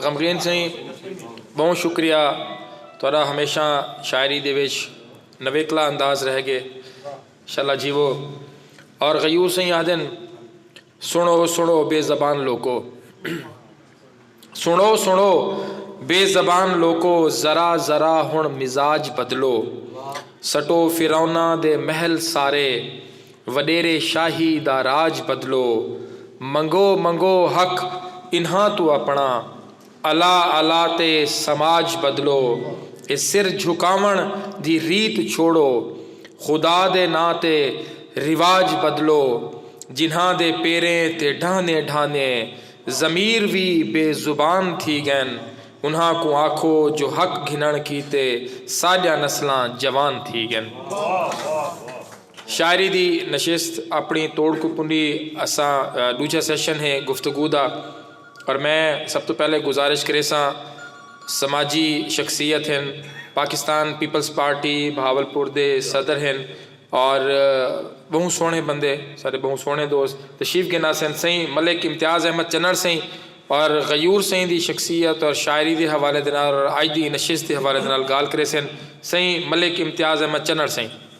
غمگین سائیں بہوں شکریہ تھوڑا ہمیشہ شاعری دے وچ نویکلا انداز رہ گئے شالا جیو اور غیور سائیں آدن سنو سنو بے زبان لوکو سنو سنو بے زبان لوکو ذرا ذرا ہن مزاج بدلو سٹو فرونا دے محل سارے وݙیرے شاہی دا راج بدلو۔ منگو منگو حق انہاں توں اپݨا۔ الا الا تے سماج بدلو۔ اے سر جھکاوݨ دی ریت چھوڑو۔ خدا دے ناں تے رواج بدلو۔ جنہاں دے پیریں تے ڈھہندیں ڈھہندیں ضمیر وی بے زبان تھی ڳئن انہاں کوں آکھو جو حق گھنݨ کیتے ساݙیاں نسلاں جوان تھی ڳئن۔ شاعری دی نشست اپنی توڑ کوں پنڈی اساں ڈوجھا سیشن ہے گفتگو دا اور میں سب تو پہلے گزارش کریساں سماجی شخصیت ہن پاکستان پیپلز پارٹی بہاولپور دے صدر ہن اور بہوں سوہنے بندے سارے بہوں سوہنے دوست تشریف گھن آسن سئیں ملک امتیاز احمد چنڑ سئیں اور غیور سئیں دی شخصیت اور شاعری دے حوالے دے نال اور اج دی نشست دے حوالے دے نال گال کریسن سئیں ملک امتیاز احمد چنڑ سئیں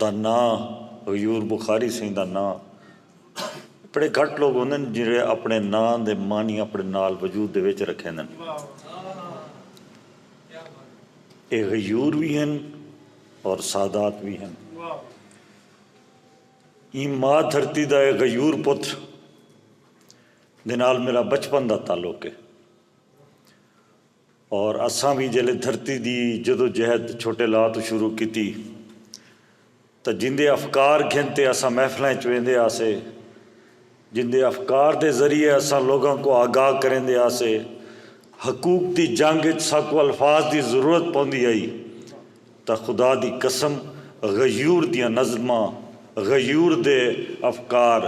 دا ناں غیور بخاری سئیں دا ناں بڑے گھٹ لوگ ہوندن جیہڑے اپنے ناں دے معنی اپنے نال وجود دے وچ رکھیندن اے غیور وی ہن اور سادات وی ہن ایں ماء دھرتی دا اے غیور پتر دے نال میرا بچپن دا تعلق ہے اور اساں وی جیلے دھرتی دی جدوجہد چھوٹے لا توں شروع کیتی تاں جیندے افکار گھن تے اساں محفلاں اچ ویندے ہاسے جیندے افکار دے ذریعے اساں لوگاں کوں آگاہ کریندے ہاسے حقوق دی جنگ اچ ساکوں الفاظ دی ضرورت پوندی ہئی تاں خدا دی قسم غیور دیاں نظماں غیور دے افکار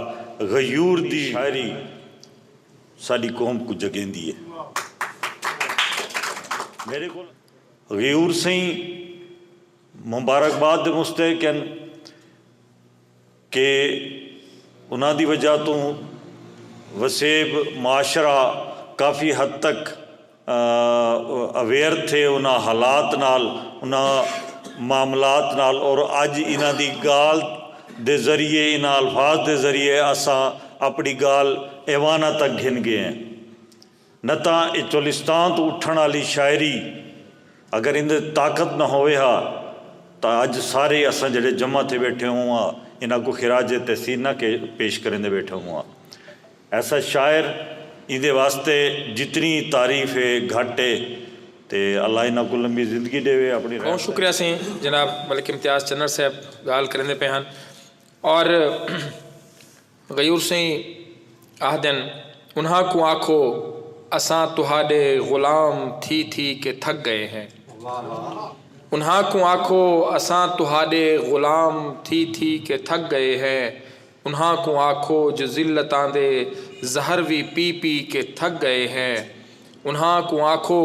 غیور دی شاعری ساݙی قوم کوں جڳیندی ہے۔ میݙے کول غیور سئیں مبارک باد دے مستحق ہن کہ انہاں دی وجہ توں وسیب معاشرہ کافی حد تک اویئر تھے انہاں حالات نال انہاں معاملات نال اور اج انہاں دی گالھ دے ذریعے انہاں الفاظ دے ذریعے اساں اپنی گالھ ایواناں تک گھن گئے ہیں نہ تاں اے چولستان توں اٹھن آلی شاعری اگر ایندے تے طاقت نہ ہووے ہا تاں اج سارے اساں جیڑھے جمع تھے بیٹھے ہوں آں انہاں کوں خراج تحسین نہ پیش کریندے بیٹھے ہوں آں۔ ایسا شاعر ایندے واسطے جتنی تعریف ہے گھٹ ہے تے اللہ انہاں کوں لمبی زندگی ڈیوے اپنی رحمت نال۔ بہوں شکریہ سیں جناب ملک امتیاز چنڑ صاحب گالھ کریندے پئے ہن اور غیور سئیں آہدن انہاں کوں آکھو اساں تہاڈے غلام تھی تھی کے تھک گئے ہیں انہاں کوں آکھو اساں تہاڈے غلام تھی تھی کے تھک گئے ہیں۔ انہاں کوں آکھو جو ذلتاں دے زہر وی پی پی کے تھک گئے ہیں۔ انہاں کوں آکھو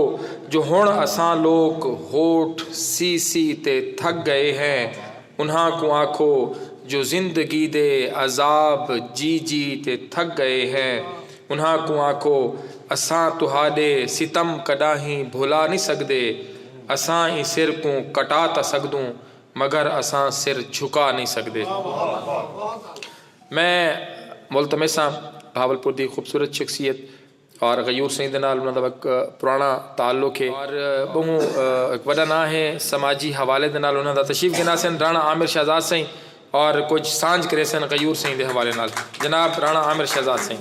جو ہنڑ اساں لوک ہوٹ سی سی تے تھک گئے ہیں۔ انہاں کوں آکھو جو زندگی دے عذاب جی جی تے تھک گئے ہیں۔ انہاں کوں آکھو اساں تہاڈے ستم کڈاہیں بھلا نی سگدے۔ اساں ایں سر کوں کٹا تاں سگدوں مگر اساں سر جھکا نئیں سڳدے۔ میں ملتمس ہاں بہاولپور دی خوبصورت شخصیت اور غیور سئیں دے نال انہاں دا ہک پراݨا تعلق ہے اور ٻہوں ہک وݙا ناں ہے سماجی حوالے دے نال انہاں دا تشریف گھن آسن راݨا عامر شہزاد سئیں اور کجھ سانجھ کریسن غیور سئیں دے حوالے نال جناب راݨا عامر شہزاد سئیں۔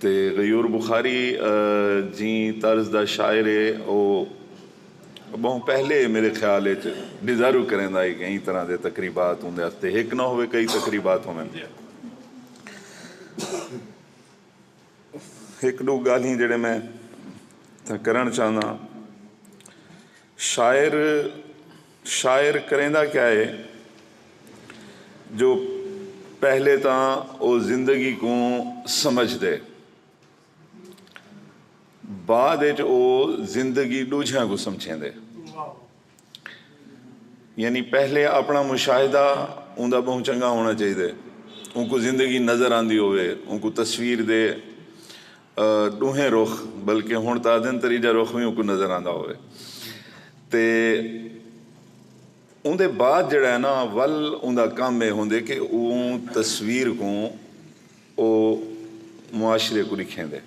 تے غیور بخاری جیں طرز دا شاعر ہے او بہوں پہلے میرے خیال اچ ڈیزرو کریندا ہے کہ ایں طرح دے تقریبات اوندے واسطے ہک نہ ہووے کئی تقریبات ہوون ہک ڈو گالھیں جیڑھے میں اتھاں کرن چاہنداں شاعر شاعر کریندا کیا ہے جو پہلے تاں او زندگی کوں سمجھدے بعد اچ او زندگی ڈوجھیاں کوں سمجھیندے یعنی پہلے اپنا مشاہدہ اوندا بہوں چنگا ہونا چاہیدے اونکوں زندگی نظر آندی ہووے اونکوں تصویر دے ݙوہیں رخ بلکہ ہݨ تاں آہدن تریجھا رخ وی اونکوں نظر آندا ہووے تے اوندے بعد جیڑھا ہے نا ول اوندا کم اے ہوندے کہ اوں تصویر کوں او معاشرے کوں ݙکھیندے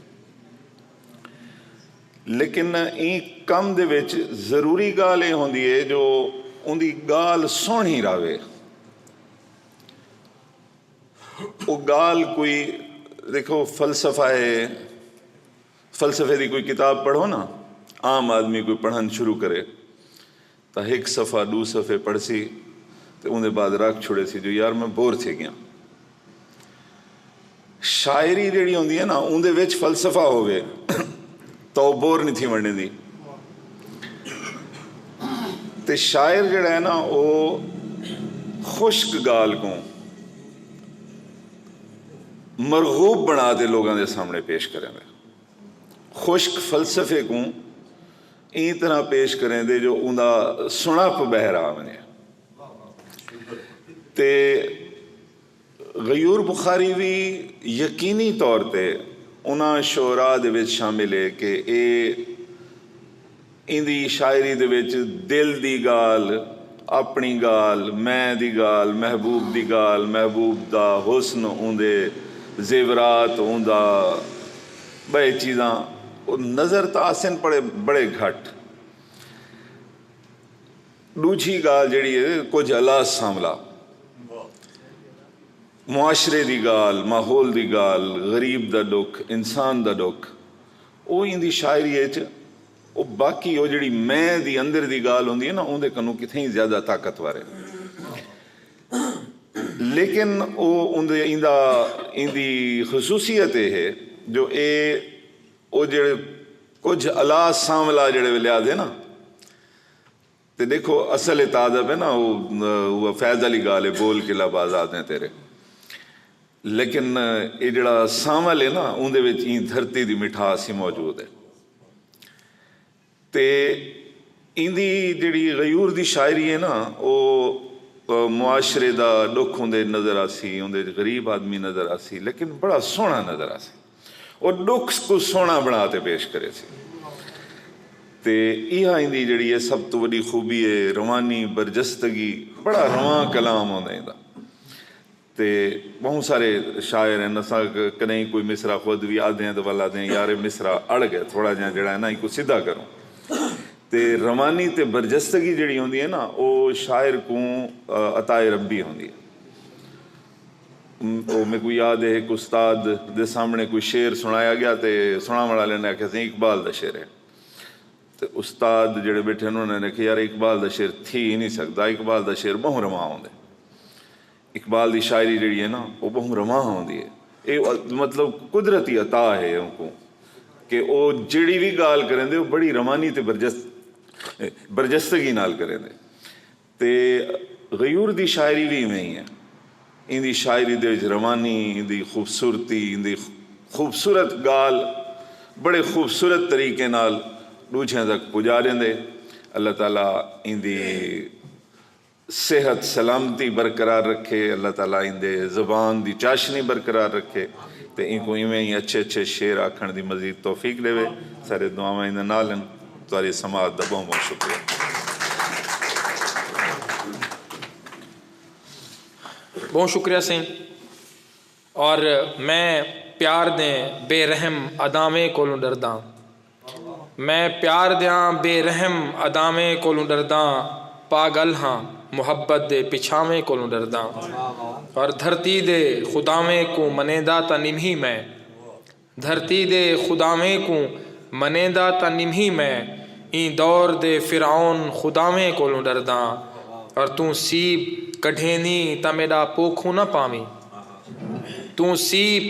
لیکن ایں کم دے وچ ضروری ڳالھ اے ہوندی اے جو اوندی ڳالھ سوہݨی راہوے۔ او ڳالھ کوئی ݙیکھو فلسفہ ہے فلسفے دی کوئی کتاب پڑھو نا عام آدمی کوئی پڑھݨ شروع کرے تاں ہک صفحہ ݙو صفحے پڑھسی تے اوندے بعد رکھ چھوڑے سی جو یار میں بور تھی ڳیاں شاعری جیڑھی ہوندی ہے نا اوندے وچ فلسفہ ہووے توں بور نی تھی ونڑیندی تے شاعر جیڑھا ہے نا او خشک گالھ کوں مرغوب بنڑا تے لوگاں دے سامنڑے پیش کریندے۔ خشک فلسفے کوں ایں طرح پیش کریندے جو اوندا سنڑپ بہر آ ونجے تے غیور بخاری وی یقینی طور تے انہاں شعراء دے وچ شامل ہے کہ اے ایندی شاعری دے وچ دل دی گالھ، اپݨی گالھ، میں دی گالھ، محبوب دی گالھ، محبوب دا حسن، اوندے زیورات، اوندا ٻئے چیزاں نظر تاں آسن پر بڑے گھٹ۔ ڈوجھی گالھ جیڑھی ہے کجھ الاس سانولا معاشرے دی گالھ ماحول دی گالھ غریب دا ڈکھ انسان دا ڈکھ او ایندی شاعری اچ او باقی او جیڑھی میں دی اندر دی گالھ ہوندی ہے نا اوندے کنوں کتھے ہی زیادہ طاقتور ہے لیکن او اوندے ایندا ایندی خصوصیت اے ہے جو اے او جیڑھے کجھ الاس سانولا جیڑھے ویلے آدھے نا تے ݙیکھو اصل اے تازہ پے نا او اوہ فیض آلی ڳالھ اے بول قلعہ بازادیں تیرے لیکن اے جیڑھا سانول اے نا اوندے وچ ایں دھرتی دی مٹھاس ہی موجود اے تے ایندی جیڑھی غیور دی شاعری اے نا او معاشرے دا ݙکھ اوندے وچ نظر آسی اوندے وچ غریب آدمی نظر آسی لیکن بڑا سوہݨا نظر آسی۔ او ݙکھ کوں سوہݨا بݨا تے پیش کرے تھی تے ایہا ایندی جیڑھی اے سب توں وݙی خوبی اے روانی برجستگی بڑا رواں کلام ہوندا ایندا تے ٻہوں سارے شاعر ہن اساں کݙاہیں کوئی مصرع خود وی آہدیاں تے ول آہدیاں یار اے مصرع اڑ ڳئے تھوڑا جیہاں جیڑھا اے نا اینکوں سدھا کروں تے روانی تے برجستگی جیڑھی ہوندی اے نا او شاعر کوں عطائے ربی ہوندی اے۔ او میکوں یاد اے ہک استاد دے سامنڑے کوئی شعر سنڑایا گیا تے سنڑاونڑ آلے نے آکھیا سئیں اقبال دا شعر ہے تے استاد جیڑھے بیٹھے ہن انہاں نے آکھیا یار اقبال دا شعر تھی ہی نی سگدا اقبال دا شعر بہوں رواں ہوندے اقبال دی شاعری جیڑھی ہے نا او بہوں رواں ہوندی ہے اے مطلب قدرتی عطا ہے اوکوں کہ او جیڑھی وی گالھ کریندے او بڑی روانی تے برجستگی نال کریندے۔ تے غیور دی شاعری وی ایویں ای ہے۔ ایندی شاعری دے وچ روانی، ایندی خوبصورتی، ایندی خوبصورت گالھ بڑے خوبصورت طریقے نال ڈوجھیاں تک پجاریندے۔ اللہ تعالی ایندی صحت سلامتی برقرار رکھے۔ اللہ تعالی ایندے زبان دی چاشنی برقرار رکھے تے اینکوں ایویں ای اچھے اچھے شعر آکھن دی مزید توفیق ڈیوے۔ سارے دعاواں ایندے نال ہن۔ تہاݙی سماعت دا ٻہوں ٻہوں شکریہ۔ ٻہوں شکریہ سئیں اور میں پیار دیں بے رحم اداویں کولوں ݙرداں میں پیار دیاں بے رحم اداویں کولوں ݙرداں پاڳل ہاں محبت دے پچھاویں کولوں ݙرداں اور دھرتی دے خداویں کوں منیندا تاں نمہی میں دھرتی دے خداویں کوں منیندا تاں نمھی میں ایں دور دے فرعون خداویں کولوں ڈرداں اور توں سیپ کڈھیندیں تاں میڈا پوکھوں نہ پاویں توں سیپ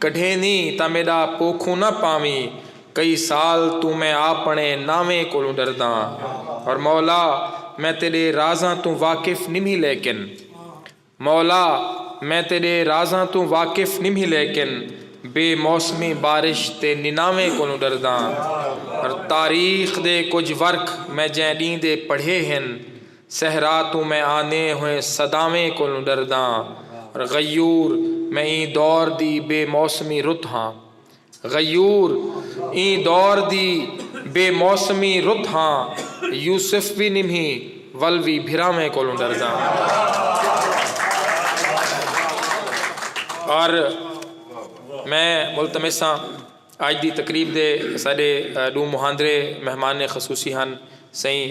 کڈھیندیں تاں میڈا پوکھوں نہ پاویں کئی سال توں میں آپنڑے ناویں کولوں ڈرداں اور مولا میں تیڈے رازاں توں واقف نمھی لیکن مولا! میں تیݙے رازاں توں واقف نمھی لیکن بے موسمی بارش تے نناویں کولوں ݙرداں۔ پر تاریخ دے کجھ ورق میں جئیں ݙینھ دے پڑھے ہن۔ صحرا توں میں آندیں ہوئیں صداویں کولوں ݙرداں۔ پر غیور! میں ایں دور دی بے موسمی رت ہاں۔ غیور ایں دور دی بے موسمی رت ہاں یوسف وی نمھی ول وی بھراویں کولوں ڈردا ہا اور میں ملتمس ہاں اج دی تقریب دے ساڈے ڈو مہاندرے مہمان خصوصی ہن سئیں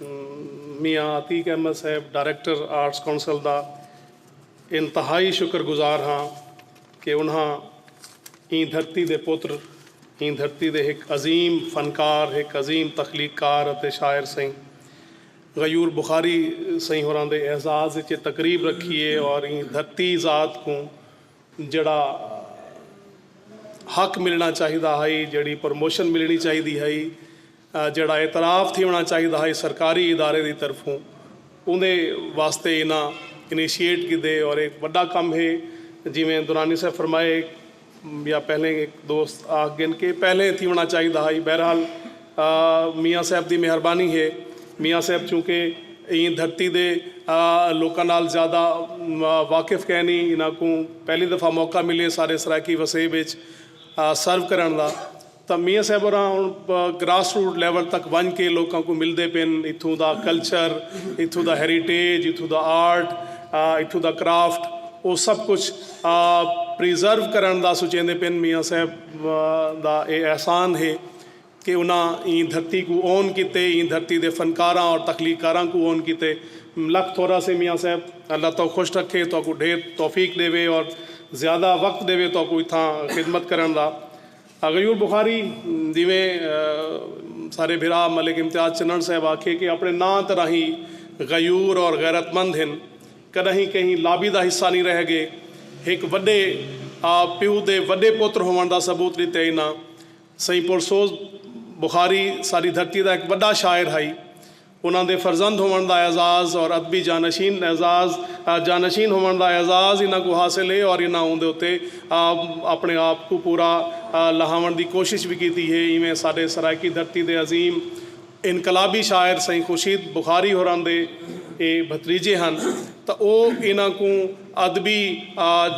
میاں عتیق احمد صاحب ڈائریکٹر آرٹس کونسل دا انتہائی شکر گزار ہاں کہ انہاں ایں دھرتی دے پتر، ایں دھرتی دے ہک عظیم فنکار، ہک عظیم تخلیق کار اتے شاعر سئیں غیور بخاری سئیں ہوراں دے اعزاز اچ اے تقریب رکھی اے اور ایں دھرتی ذات کوں جیڑھا حق ملݨا چاہیدا ہئی، جیڑھی پروموشن ملݨی چاہیدی ہئی، جیڑھا اعتراف تھیوݨا چاہیدا ہئی سرکاری ادارے دی طرفوں اوندے واسطے انہاں انیشیٹ کیتے اور ایک وڈا کم ہے جیویں درانی صاحب فرمائے یا پہلے ایک دوست آکھ گن کہ پہلے تھیوݨا چاہیدا ہئی بہرحال میاں صاحب دی مہربانی ہے میاں صاحب چونکہ ایں دھرتی دے لوکاں نال زیادہ واقف کینی انہاں کوں پہلی دفعہ موقع ملے سارے سرائیکی وسیب اچ سرو کرݨ دا۔ تاں میاں صاحب ہوراں ہݨ گراس روٹ لیول تک ونڄ کے لوکاں کوں ملدے پن، اتھوں دا کلچر، اتھوں دا ہیریٹیج، اتھوں دا آرٹ، اتھوں دا کرافٹ او سب کجھ پریزرو کرݨ دا سوچیندے پن، میاں صاحب دا اے احسان ہے کہ انہاں ایں دھرتی کوں اون کیتے، ایں دھرتی دے فنکاراں اور تخلیق کاراں کوں اون کیتے لکھ تھورا سے میاں صاحب، اللہ تہاکوں خوش رکھے، تہاکوں ڈھیر توفیق ݙیوے اور زیادہ وقت ݙیوے تہاکوں اتھاں خدمت کرݨ دا۔ غیور بخاری دیویں سارے بھرا ملک امتیاز چنڑ صاحب آکھیے کہ اپنے ناں تے راہیں غیور اور غیرت مند ہن کڈاہیں کہیں لابی دا حصہ نی رہ گے ہک وڈے آ پیو دے وڈے پتر ہوون دا ثبوت ڈتے انہاں سئیں پرسوز بخاری ساڈی دھرتی دا ہک وڈا شاعر ہائی انہاں دے فرزند ہووݨ دا اعزاز اور ادبی جانشین اعزاز جانشین ہووݨ دا اعزاز انہاں کوں حاصل ہے اور انہاں اوندے اتے اپݨے آپ کوں پورا لہاوݨ دی کوشش وی کیتی ہے ایویں ساݙے سرائیکی دھرتی دے عظیم انقلابی شاعر سئیں خورشید بخاری ہوراں دے اے بھتریجے ہن تاں او انہاں کوں ادبی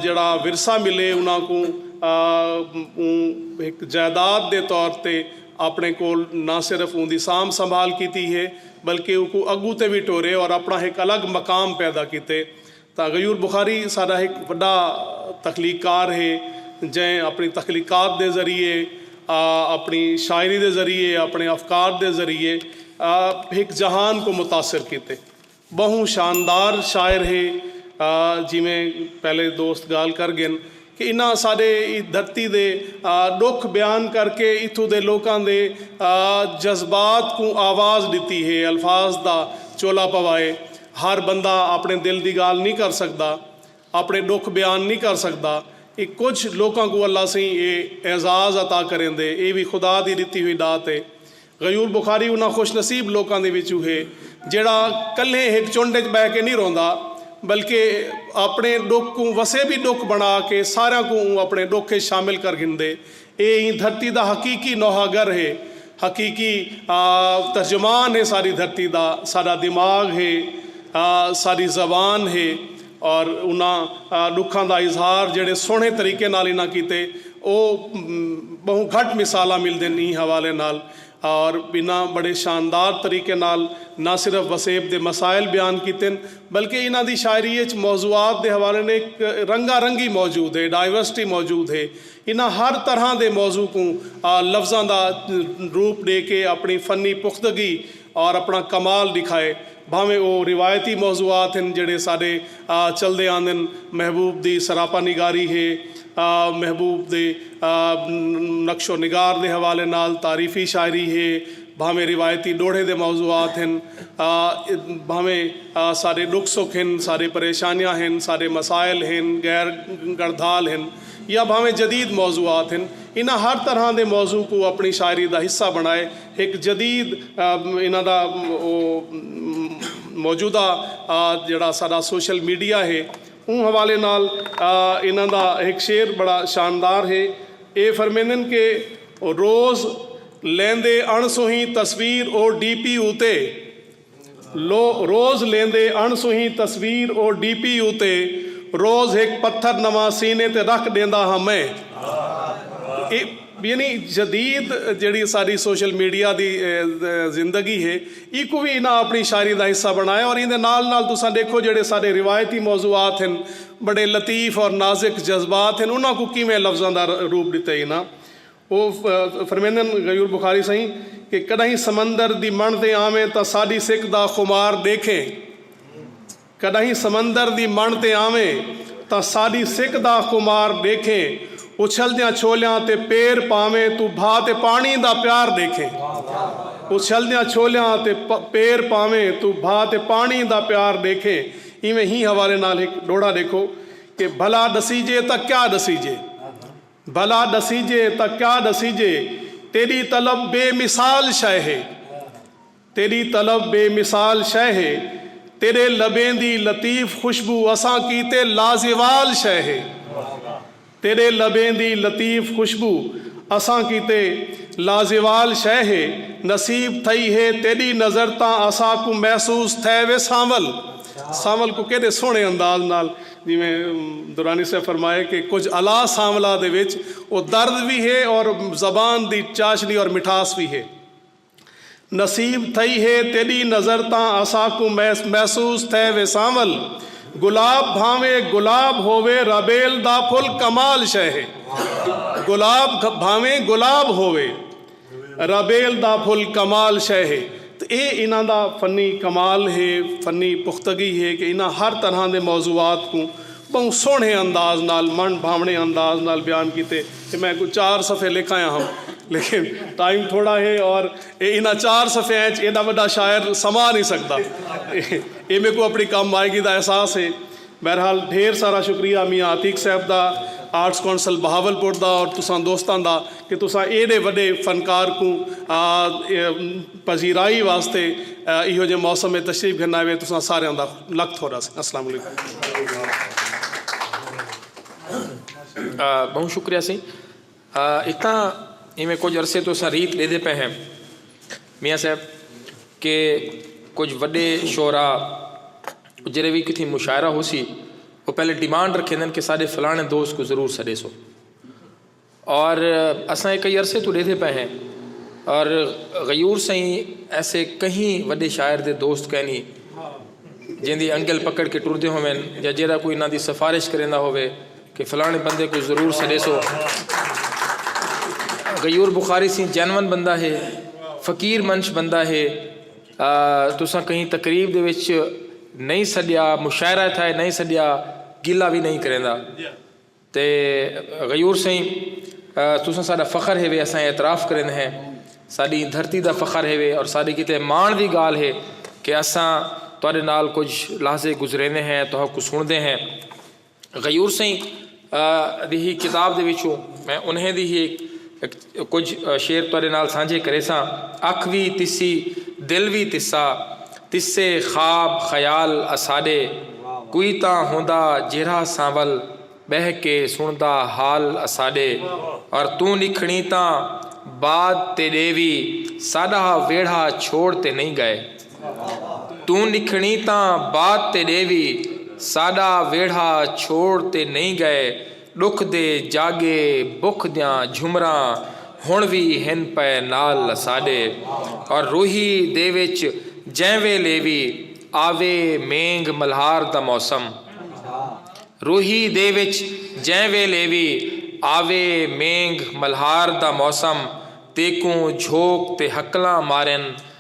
جیڑھا ورثہ ملے انہاں کوں اوں ہک جائیداد دے طور تے آپݨے کول نہ صرف اوندی سانبھ سنبھال کیتی ہے بلکہ اوکوں اڳوں تے وی ٹورے اور آپݨا ہک الگ مقام پیدا کیتے تاں غیور بخاری ساݙا ہک وݙا تخلیق کار ہے جئیں آپݨی تخلیقات دے ذریعے آپݨی شاعری دے ذریعے آپݨے افکار دے ذریعے ہک جہان کوں متاثر کیتے۔ ٻہوں شاندار شاعر ہے جیویں پہلے دوست گالھ کر گن کہ انہاں ساݙے دھرتی دے ݙکھ بیان کر کے اتھوں دے لوکاں دے جذبات کوں آواز ݙتی ہے الفاظ دا چولا پوائے ہر بندہ اپݨے دل دی گالھ نی کر سڳدا اپݨے ݙکھ بیان نی کر سڳدا اے کجھ لوکاں کوں اللہ سئیں اے اعزاز عطا کریندے اے وی خدا دی ݙتی ہوئی ݙات اے غیور بخاری انہاں خوش نصیب لوکاں دے وچوں ہے جیہڑا کلھے ہک چنڈ اچ ٻہہ کے نی روندا بلکہ اپݨے ݙکھ کوں وسے وی ݙکھ بݨا کے ساریاں کوں اوں اپݨے ݙکھ اچ شامل کر گھندے۔ ایہ ایں دھرتی دا حقیقی نوحہ گر ہے، حقیقی ترجمان ہے ساری دھرتی دا، ساݙا دماغ ہے، ساݙی زبان ہے، اور انہاں ڈکھاں دا اظہار جیڑھے سوہنڑے طریقے نال انہاں کیتے او بہوں گھٹ مثالاں ملدن ایں حوالے نال اور انہاں بڑے شاندار طریقے نال نہ صرف وسیب دے مسائل بیان کیتن بلکہ انہاں دی شاعری اچ موضوعات دے حوالے نے ہک رنگا رنگی موجود ہے ڈائیورسٹی موجود ہے انہاں ہر طرحاں دے موضوع کوں لفظاں دا روپ ڈے کے اپنڑی فنی پختگی اور اپنڑا کمال ڈکھائے۔ بھانویں او روایتی موضوعات ہن جیڑھے ساڈے چلدے آندن، محبوب دی سراپا نگاری ہے، محبوب دے نقش و نگار دے حوالے نال تعریفی شاعری ہے، بھانویں روایتی ڈوہڑے دے موضوعات ہن، بھانویں ساڈے ڈکھ سکھ ہن، ساڈے پریشانیاں ہن، ساڈے مسائل ہن، غیر گڑدھال ہن یا بھانویں جدید موضوعات ہن، انہاں ہر طرحاں دے موضوع کوں اپنڑی شاعری دا حصہ بنڑائے، ہک جدید انہاں دا او موجودہ جیڑھا ساڈا سوشل میڈیا ہے اوں حوالے نال انہاں دا ہک شعر بڑا شاندار ہے۔ اے فرمیندن کہ روز لیندے اݨ سوہی تصویر او ڈی پی اتے۔ لو روز لیندے اݨ سوہیں تصویر او ڈی پی اتے روز ہک پتھر نواں سینے تے رکھ ݙیندا ہاں میں اے یعنی جدید جیڑھی ساݙی سوشل میڈیا دی زندگی ہے ایکوں وی انہاں اپݨی شاعری دا حصہ بݨایا اور ایندے نال نال تساں ݙیکھو جیڑھے ساݙے روایتی موضوعات ہن بڑے لطیف اور نازک جذبات ہن انہاں کوں کیویں لفظاں دا روپ ݙتے انہاں او فرمیندن غیور بخاری سئیں کہ کݙاہیں سمندر دی مݨ تے آویں تاں ساݙی سک دا خمار ݙیکھیں کݙاہیں سمندر دی مݨ تے آویں تاں ساݙی سک دا خمار ݙیکھیں اچھلدیاں چھولیاں تے پیر پاویں توں بھا تے پاݨی دا پیار ݙیکھیں اچھلدیاں چھولیاں تے پیر پاویں توں بھا تے پاݨی دا پیار ݙیکھیں ایویں ہی حوالے نال ہک ݙوہڑا ݙیکھو کہ بھلا ݙسیجے تاں کیا ݙسیجے۔ بھلا ݙسیجے تاں کیا ݙسیجے تیݙی طلب بے مثال شئے ہے تیݙی طلب بے مثال شئے ہے تیݙے لبیں دی لطیف خوشبو اساں کیتے لازوال شئے ہے تیݙے لبیں دی لطیف خوشبو اساں کیتے لازوال شئے ہے نصیب تھئی ہے تیݙی نظر تاں اساکوں محسوس تھئے وے سانول سانول کوں کیݙے سوہݨے انداز نال جیویں درانی صاحب فرمائے کہ کجھ الا سانولا دے وچ او درد وی ہے اور زبان دی چاشنی اور مٹھاس وی ہے۔ نصیب تھئی ہے تیڈی نظر تاں اساکوں محسوس تھے وے سانول گلاب بھانویں گلاب ہووے رابیل دا پھل کمال شے ہے گلاب بھانویں گلاب ہووے۔ رابیل دا پھل کمال شئے ہے تے ایہ انہاں دا فنی کمال ہے، فنی پختگی ہے کہ انہاں ہر طرحاں دے موضوعات کوں ٻہوں سوہݨے انداز نال، من بھاوݨے انداز نال بیان کیتے تے میں کوئی چار صفحے لکھ آیا ہم لیکن ٹائم تھوڑا ہے اور ایہ انہاں چار صفحیاں اچ ایݙا وݙا شاعر سما نی سڳدا۔ ایہ میکوں اپݨی کم آئیگی دا احساس ہے۔ بہرحال ڈھیر سارا شکریہ میاں عتیق صاحب دا، آرٹس کونسل بہاولپور دا اور تساں دوستاں دا کہ تساں ایڈے وڈے فنکار کوں پذیرائی واسطے ایہو جے موسم اچ تشریف گھن آئے تساں ساریاں دا لکھ تھوڑا سی السلام علیکم۔ بہوں شکریہ سی۔ اتاں ایویں کجھ عرصے توں اساں ریت ݙیندے پئے ہیں میاں صاحب کہ کجھ وݙے شعراء جیرھے وی کتھیں مشاعرہ ہوسی او پہلے ڈیمانڈ رکھیندن کہ ساݙے فلاݨے دوست کوں ضرور سݙیسو اور اساں اے کئی عرصے توں ݙیندے پئے ہیں اور غیور سئیں ایسے کہیں وݙے شاعر دے دوست کینی جیندی انگل پکڑ کے ٹردے ہوون یا جیرھا کوئی انہاں دی سفارش کریندا ہووے کہ فلانے بندے کوں ضرور سڈیسو غیور بخاری سی جینون بندہ ہے فقیر منش بندہ ہے تساں کہیں تقریب دے وچ نہیں سڈیا مشاعرہ تھا نہیں سڈیا گلا بھی نہیں کریں تے غیور سائیں تساں ساڈا فخر ہے وے اساں اعتراف کریں ہیں ساری دھرتی دا فخر ہے وے اور ساری کتے مان دی گال ہے کہ اساں تہاڈے نال کچھ لحظے گزرینے ہیں تو کو سن دے ہیں غیور سئیں دی ہی کتاب دے وچوں میں انہیں دی ہی کجھ شعر تہاڈے نال سانجھے کریساں اکھ وی تسی دل وی تسا تسے خواب خیال اساڈے کوئی تاں ہوندا جیرھا سانول بہہ کے سنڑدا حال اساڈے اور توں نکھنڑیں تاں بعد تیڈے وی ساڈا ویڑھا چھوڑ تے نئیں گئے۔ توں نکھنڑیں تاں بات تے ݙیوی ساݙا ویڑھا چھوڑ تے نئیں ڳئے ݙکھ دے جاڳے بکھ دیاں جھمراں ہݨ وی ہن پئے نال اساݙے اور روہی دے وچ جئیں ویلے وی آوے مینگھ ملہار دا موسم روہی دے وچ جئیں ویلے وی آوے مینگھ ملہار دا موسم تیکوں جھوک تے ہکلاں مارن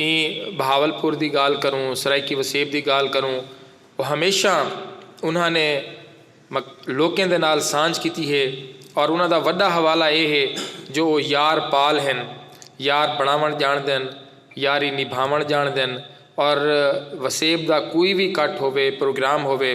ایں بہاولپور دی گالھ کروں، سرائیکی وسیب دی گالھ کروں او ہمیشاں انہاں نے لوکیں دے نال سانجھ کیتی ہے اور انہاں دا وڈا حوالہ اے ہے جو او یار پال ہن، یار بنڑاونڑ جانڑدن، یاری نبھاونڑ جانڑدن اور وسیب دا کوئی وی کٹ ہووے، پروگرام ہووے۔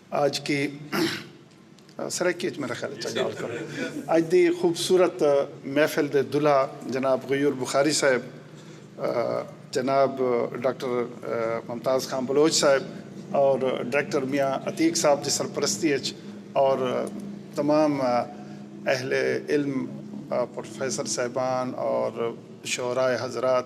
اج کی سرائیکی اچ میرا خیال اچ گالھ کرو۔ اج دی خوبصورت محفل دے دلہا جناب غیور بخاری صاحب، جناب ڈاکٹر ممتاز خان بلوچ صاحب اور ڈائریکٹر میاں عتیق صاحب دی سرپرستی اچ اور تمام اہل علم پروفیسر صاحبان اور شعراء حضرات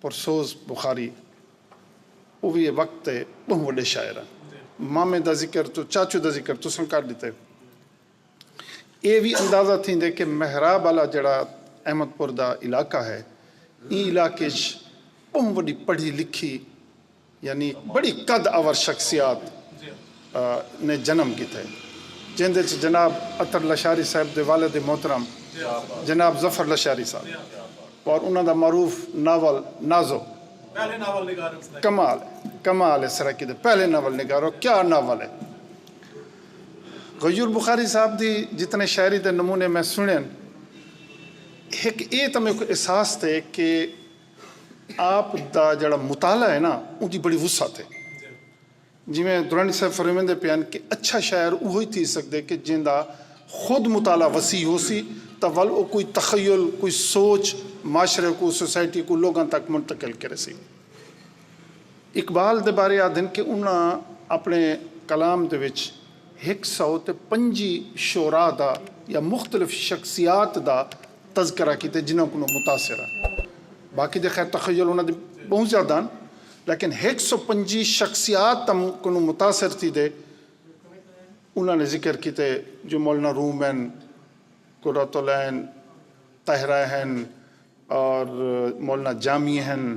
پرسوز بخاری اووی اے وقت تے بہوں وڈے شاعر ہن۔ مامے دا ذکر توں چاچو دا ذکر تساں کر ڈتے۔ اے وی اندازہ تھیندے کہ محراب آلا جیڑھا احمد پور دا علاقہ ہے ایں علاقے اچ بہوں وڈی پڑھی لکھی یعنی بڑی قد آور شخصیات نے جنم کیتے جیندے اچ جناب عطر لشاری صاحب دے والد محترم جناب ظفر لشاری صاحب اور انہاں دا معروف ناول نازو کمال ہے کمال ہے سرائیکی دے پہلے ناول نگار اور کیا ناول ہے غیور بخاری صاحب دی جتنے شاعری دے نمونے میں سنن ہک اے تاں میکوں احساس تھے کہ آپ دا جیڑھا مطالعہ ہے نا اوندی بڑی وسعت ہے۔ جیویں درانی صاحب فرمیندے پئے ہن کہ اچھا شاعر اوہی تھی سگدے کہ جیندا خود مطالعہ وسیع ہوسی تاں ول او کوئی تخیل، کوئی سوچ معاشرے کوں، سوسائٹی کوں، لوگاں تک منتقل کریسی۔ اقبال دے بارے آدھن کہ انہاں اپݨے کلام دے وچ ہک سو تے پنجی شعراء دا یا مختلف شخصیات دا تذکرہ کیتے جنہاں کولوں متاثر ہن باقی دے خیر تخیل انہاں دے بہوں زیادہ ہن لیکن ہک سو پنجی شخصیات تاں کنوں متاثر تھی دے انہاں نے ذکر کیتے جو مولانا روم ہن قرۃ العین طاہرہ ہن اور مولانا جامی ہن۔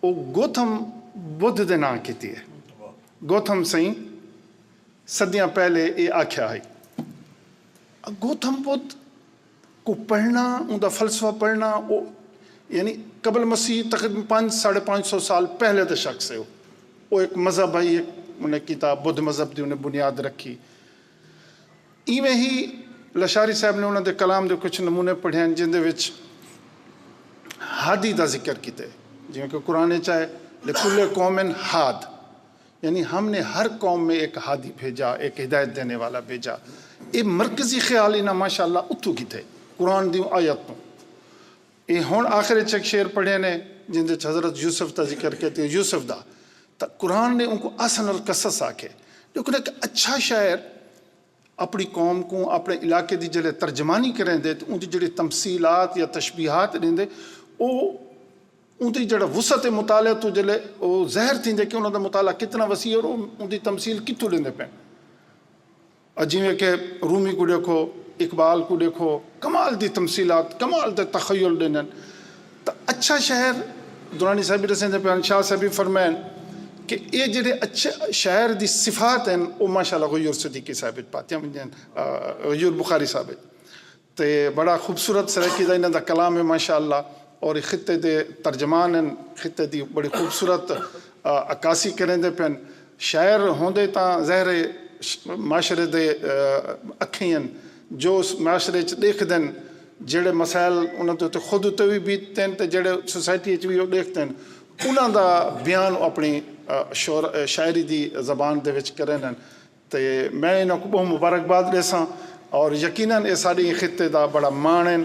او گوتھم بدھ دے ناں کیتی ہے۔ گوتھم سئیں صدیاں پہلے اے آکھیا ہئی۔ گوتھم بدھ کوں پڑھنا اوندا فلسفہ پڑھنا او یعنی قبل مسیح تقریبا پنج ساڑھے پنج سو سال پہلے دا شخص ہے او۔ او ہک مذہب ہئی ہک انہیں کیتا بدھ مذہب دی انہیں بنیاد رکھی۔ اینویں ہی لشاری صاحب نے انہاں دے کلام دے کجھ نمونے پڑھیئن جیندے وچ ہادی دا ذکر کیتے جیویں کہ قرآن وچ آئے لکل قوم ہاد یعنی ہم نے ہر قوم میں ایک ہادی بھیجا ایک ہدایت دینے والا بھیجا اے مرکزی خیال انہاں ماشاءاللہ اتھوں کیتے قرآن دیوں آیت توں۔ اے ہن آخر اچ ہک شعر پڑھے نے جیندے اچ حضرت یوسف دا ذکر کیتے ہن یوسف دا تاں قرآن نے اونکوں احسن القصص آکھے لیکن ہک اچھا شاعر اپنی قوم کوں اپنے علاقے دی جلے ترجمانی کریندے تاں اوندی جیڑھی تمثیلات یا تشبیہات ڈیندے او اوندی جیڑھا وسعت مطالعہ توں جلے او ظاہر تھیندے کہ انہاں دا مطالعہ کتنا وسیع ہے اور اوندی تمثیل کتھوں لیندے پئے ہن۔ اے جیویں کہ رومی کوں ݙیکھو، اقبال کوں ݙیکھو، کمال دی تمثیلات، کمال دے تخیل ݙیندن تاں اچھا شہر درانی صاحب وی ݙسیندے پئے ہن، شاہ صاحب وی فرمائن کہ اے جیڑھے اچھے شہر دی صفات ہن او ماشاءاللہ غیور صدیقی صاحب وچ پاتیاں ویندیاں ہن، غیور بخاری صاحب وچ۔ تے بڑا خوبصورت سرائیکی دا انہاں دا کلام ہے ماشاءاللہ اور خطے دے ترجمان ہن خطے دی بڑی خوبصورت عکاسی کریندے پن شاعر ہوندے تاں ظاہر ہے معاشرے دے اکھیں ہن جو اس معاشرے اچ ڈیکھدن جیڑھے مسائل انہاں دے اتے خود اتے وی بیتدن تے جیڑھے سوسائٹی اچ وی او ڈیکھدن انہاں دا بیان او اپنی شاعری دی زبان دے وچ کریندن۔ تے میں انہاں کوں ٻہوں مبارکباد ݙیساں اور یقینا اے ساݙے ایں خطے دا ٻڑا ماݨ ہن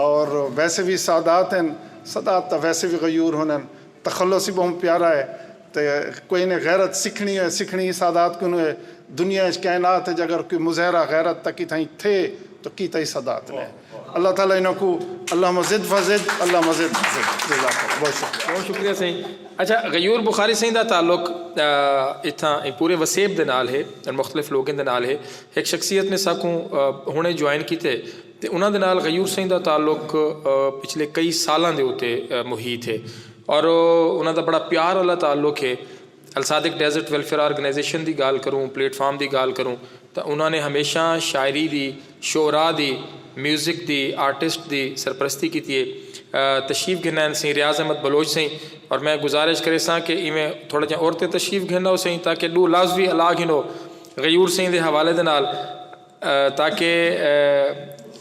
اور ویسے وی سادات ہن سادات تاں ویسے وی غیور ہونن تخلص ہی ٻہوں پیارا اے تے کوئی نے غیرت سکھݨی ہوئے سکھݨی ہی سادات کنوں اے دنیا اچ کائنات اچ اگر کوئی مظہرہ غیرت دا کتھائیں تھئے تاں کیتا ہی سادات نے۔ اللہ تعالی انہاں کوں اللہم زد فزد اللہم زد فزد جزاک اللہ بہت شکریہ بہت شکریہ سائیں اچھا غیور بخاری سائیں دا تعلق اتھاں پورے وسیب دے نال ہے مختلف لوگیں دے نال ہے ایک شخصیت نے ساکوں ہنے جوائن کیتے تے انہاں دے نال غیور سائیں دا تعلق پچھلے کئی سالاں دے اتے محیط ہے اور انہاں دا بڑا پیار والا تعلق ہے الصادق ڈیزرٹ ویلفیئر آرگنائزیشن دی گالھ کروں، پلیٹ فارم دی گالھ کروں تاں انہاں نے ہمیشاں شاعری دی، شعراء دی، میوزک دی، آرٹسٹ دی سرپرستی کیتی ہے۔ تشریف گھن آئن سئیں ریاض احمد بلوچ سئیں اور میں گزارش کریساں کہ ایویں تھوڑا جیاں اور تے تشریف گھن آؤ سئیں تاں کہ ڈو لفظ وی الا گھنو غیور سئیں دے حوالے دے نال۔ تاکہ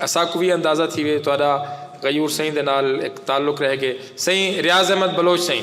اساکوں وی اندازہ تھیوے تہاڈا غیور سئیں دے نال ہک تعلق رہ گئے سئیں ریاض احمد بلوچ سئیں۔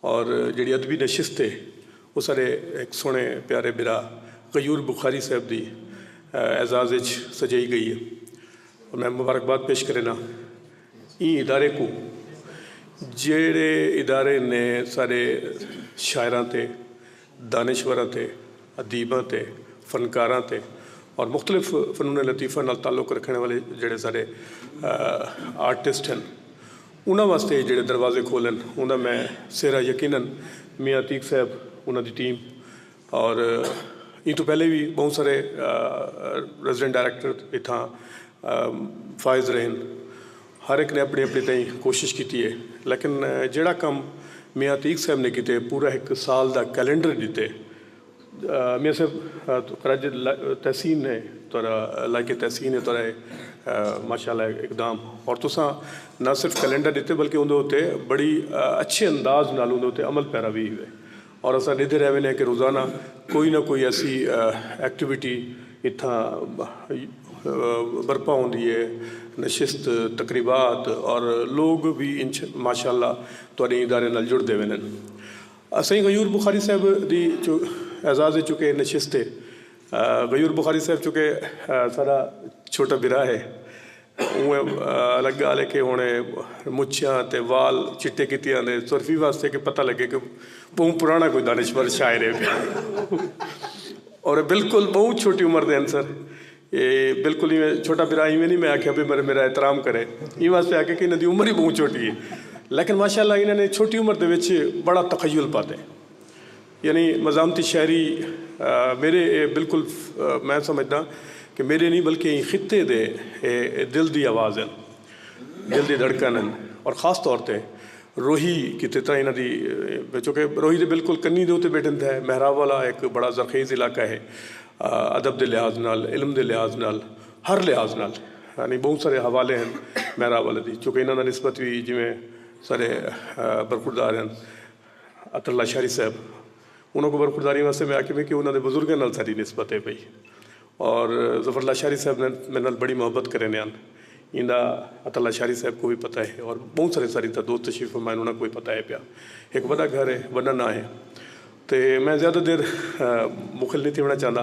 اور جیڑھی ادبی نشست ہے او ساڈے ہک سوہنے پیارے بھرا غیور بخاری صاحب دی اعزاز اچ سجائی گئی ہے۔ میں مبارکباد پیش کرینا ایں ادارے کوں جیڑھے ادارے نے ساڈے شاعراں تے۔ دانشوراں تے ادیباں تے فنکاراں تے اور مختلف فنون لطیفہ نال تعلق رکھݨ والے جیڑھے سارے آرٹسٹ ہن انہاں واسطے جیڑھے دروازے کھولن اندا میں سہرا یقینا میاں عتیق صاحب انہاں دی ٹیم اور ایں توں پہلے وی بہوں سارے ریزیڈنٹ ڈائریکٹر اتھاں فائز رہن۔ ہر ہک نے اپݨی اپݨی تئیں کوشش کیتی اے لیکن جیڑھا کم میاں عتیق صاحب نے کیتے پورا ہک سال دا کیلنڈر ݙتے میاں صاحب تہاݙا جیڑھا تحسین اے تہاݙا لائق تحسین اے تہاݙا ماشاءاللہ اقدام اور تساں نہ صرف کیلنڈر ݙتے بلکہ اوندے اتے بڑی اچھے انداز نال اوندے اتے عمل پیرا وی ہوئے۔ اور اساں ڈیدھے رہ وینے ہیں کہ روزانہ کوئی نہ کوئی ایسی ایکٹیویٹی اتھاں برپا ہوندی ہے نشست تقریبات اور لوگ وی انچ ماشاء اللہ تہاڈے ادارے نال جڑ دے ویندن اساں ہی غیور بخاری صاحب دی جو اعزاز چوں کہ نشست ہے غیور بخاری صاحب چوں کہ ساڈا چھوٹا بھرا ہے اوں الگ گالھ ہے کہ ہن اے مچھیاں تے وال چٹے کیتے آندے سرفی واسطے کہ پتہ لگے کہ بہوں پرانا کوئی دانشور شاعر ہے پیا اور بالکل بہوں چھوٹی عمر دے انسر اے بالکل ہی چھوٹا برا ہی میں نہیں میں آکھیا بھی میرے میرا احترام کرے ایں واسطے آکھے کہ انہاں دی عمر ہی بہوں چھوٹی ہے لیکن ماشاءاللہ انہاں نے چھوٹی عمر دے وچ بڑا تخیل پاتے یعنی مزاحمتی شاعری میرے بالکل میں سمجھداں کہ میرے نہیں بلکہ ایں خطے دے دل دی آواز ہن دل دی دھڑکن ہن اور خاص طور تے روہی کیتے تاں انہاں دی چونکہ روہی دے بالکل کنی دے اتے بیٹھن تھے محراب والا ایک بڑا زرخیز علاقہ ہے ادب دے لحاظ نال علم دے لحاظ نال ہر لحاظ نال یعنی بہت سارے حوالے ہن محراب والے دی چونکہ انہاں دا نسبت بھی جویں سارے برخوردار ہن عطا اللہ شاہری صاحب انہاں کوں برخورداری واسطے میں آکھیے میں کہ انہاں دے بزرگاں نال ساڈی نسبت ہے پئی اور ظفر اللہ شاہری صاحب نے میرے نال بڑی محبت کرے نے ہن ایندا عطا اللہ شاہری صاحب کو بھی پتہ ہے اور بہت سارے ساری تھا دوست تشریف فرمائے انہاں کو بھی پتہ ہے پیا ایک وڈا گھر ہے وڈا نہ ہے تے میں زیادہ دیر مخل نہیں تھی ہونا چاہندا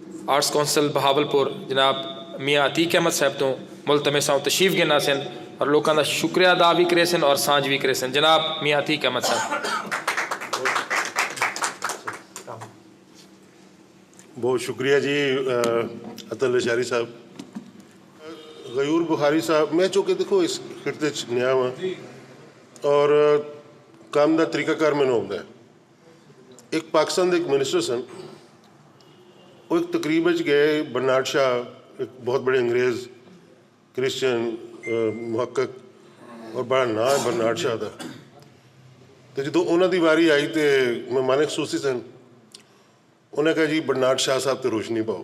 آرٹس کونسل بہاولپور جناب میاں عتیق احمد صاحب توں ملتمساں و تشریف گھن آسن اور لوکاں دا شکریہ ادا وی کریسن اور سانجھ وی کریسن جناب میاں عتیق احمد صاحب۔ بہت شکریہ جی اطہر لشاری صاحب۔ غیور بخاری صاحب میں چونکہ دیکھو اس خطے چ نیا ہاں اور کم دا طریقہ کار مینوں ہوندا ہے۔ اک پاکستان دے اک منسٹر سن او اک تقریب اچ گئے برنارڈ شاہ اک بہت بڑے انگریز کرسچن محقق اور بڑا ناں ہے برنارڈ شاہ دا تو جدو انہوں دی واری آئی تو مہمان خصوصی سن انہیں کہا جی برنارڈ شاہ صاحب تے روشنی پاؤ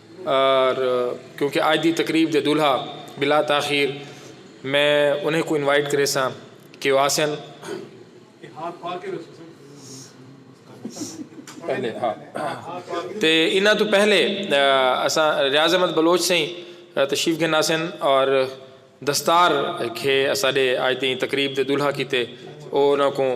ار کیونکہ آج دی تقریب دے دولہا بلا تاخیر میں انہیں کوں انوائٹ کریساں کہ او آسن۔ تے انہاں توں پہلے اساں ریاض احمد بلوچ سئیں تشریف گھن آسن اور دستار کھے اساڈے آج دی تقریب دے دولہا کیتے او انہاں کوں۔